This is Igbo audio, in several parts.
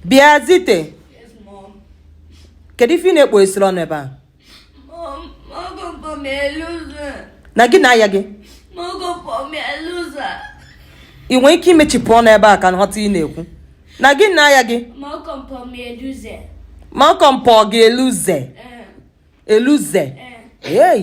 bịa Zite kedu ife ị na-ekpo esiri ọnụ ebe a na gị na aya gị ị nwere ike imechipụ ọnụ ebe a ka m ghọta ị na-ekwu na gị na aya gị Malcolm kpọ gị a loser eh. a loser eh. ei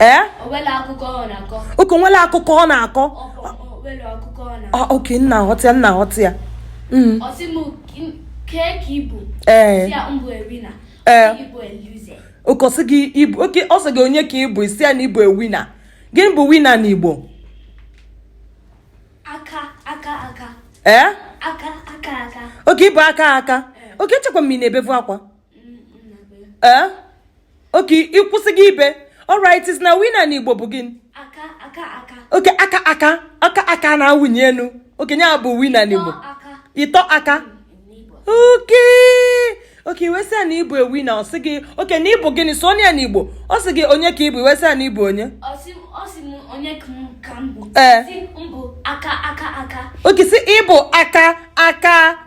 ee okay o nwere akụkọ ọ na-akọ okay m na-aghọta ya m na-aghọta ya mm. ee okay ọ sị gị ị bụ okay ọ sị gị onye ka ị bụ ị sị ya na ị bụ a winner gịnị bụ winner n'Igbo aka aka aka ee aka aka aka okay ị bụ aka aka okay echekwa m ị na-ebevu akwa ee eh? okay ị kwụsịgo ibe alright ị sị na winner n'Igbo bụ gịnị okay aka aka aka aka na-awụnye enu okay nya bụ winner n'Igbo ịtọ aka okay okay ị wee sị ya na ị bụ a winner ọ sị gị okay na ị bụ gịnị sụọ ya n'Igbo ọ sị gị onye ka ị bụ ị wee sị ya na ị bụ onye ee okay sị ị bụ aka aka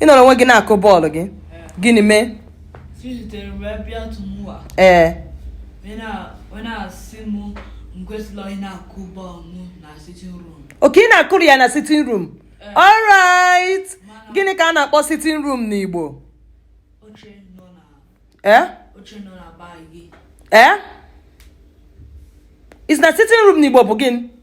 ị nọrọ onwe gị na-akụ bọọlụ gị gịnị mee ee okay ị na-akụrụ ya na sitting room alright gịnị ka a na-akpọ sitting room n'Igbo ee ee ị sị na sitting room n'Igbo bụ gịnị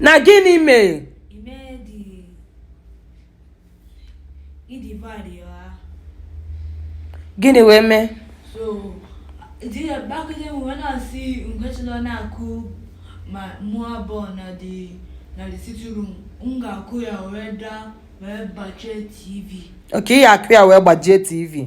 na gịnị mee gịnị wee mee ma mụa ball na the sitting room m ga-akụ ya wee daa wee gbajie tv okay ị ya akụ ya wee gbajie tv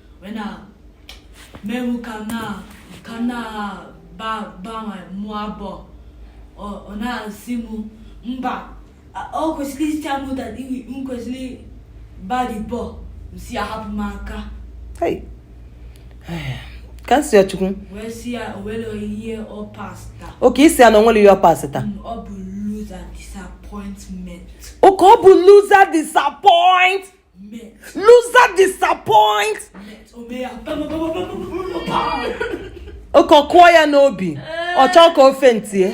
wee na mewu ka m na ka m na-agba mụa ball ọ na-asị m mba o kwesịrị ịcha mụ that m kwesịrị gba the ball m sị ya hapụ m aka ka m sị ya chukwu okay ị sị ya na o nwere ihe ọ pasị taa okay ọ bụ loser disappoint Loser disappoint. Okay ọ kụọ ya n'obi. Ọ chọọ ka ofe ntie.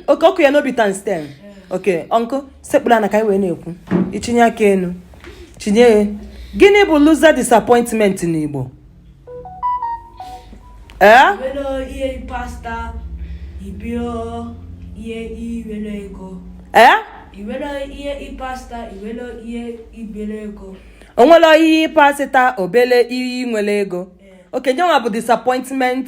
Okay ọ kụ ya n'obi times ten. Okay, uncle sekpụrụ ana ka anyị wee na-ekwu. Ị chinye aka enu. Chinye gịnị bụ loser disappointment n'Igbo? ee o nwele ihe pasịta obele ihe nwele ego okay onye nwa bụ disappointment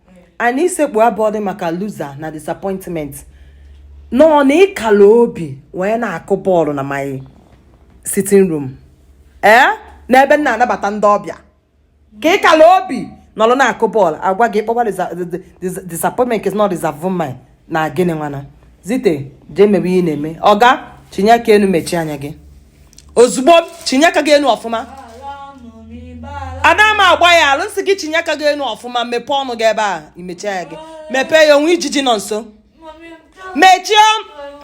and isekpu abụọ dị maka loser na disappointment nọ na ị kala obi wee na-akụ bọọlụ na my sitting room ee eh? n'ebe m na-anabata ndị ọbịa ka ị kala obi nọlụ na-akụ bọọlụ agwa gị kpọwa disappointment is not disappointment na gịnị nwana zite jee mebe ihe na-eme ọga chinye aka enu mechie anya gị ozugbo chinye aka gị enu ọfụma ada m agba ya alụ nsị gị chinye aka gị enu ọfụma mepee ọnụ gị ebe a i mechi anya gị mepee ya o nwee ijiji nọ nso mechie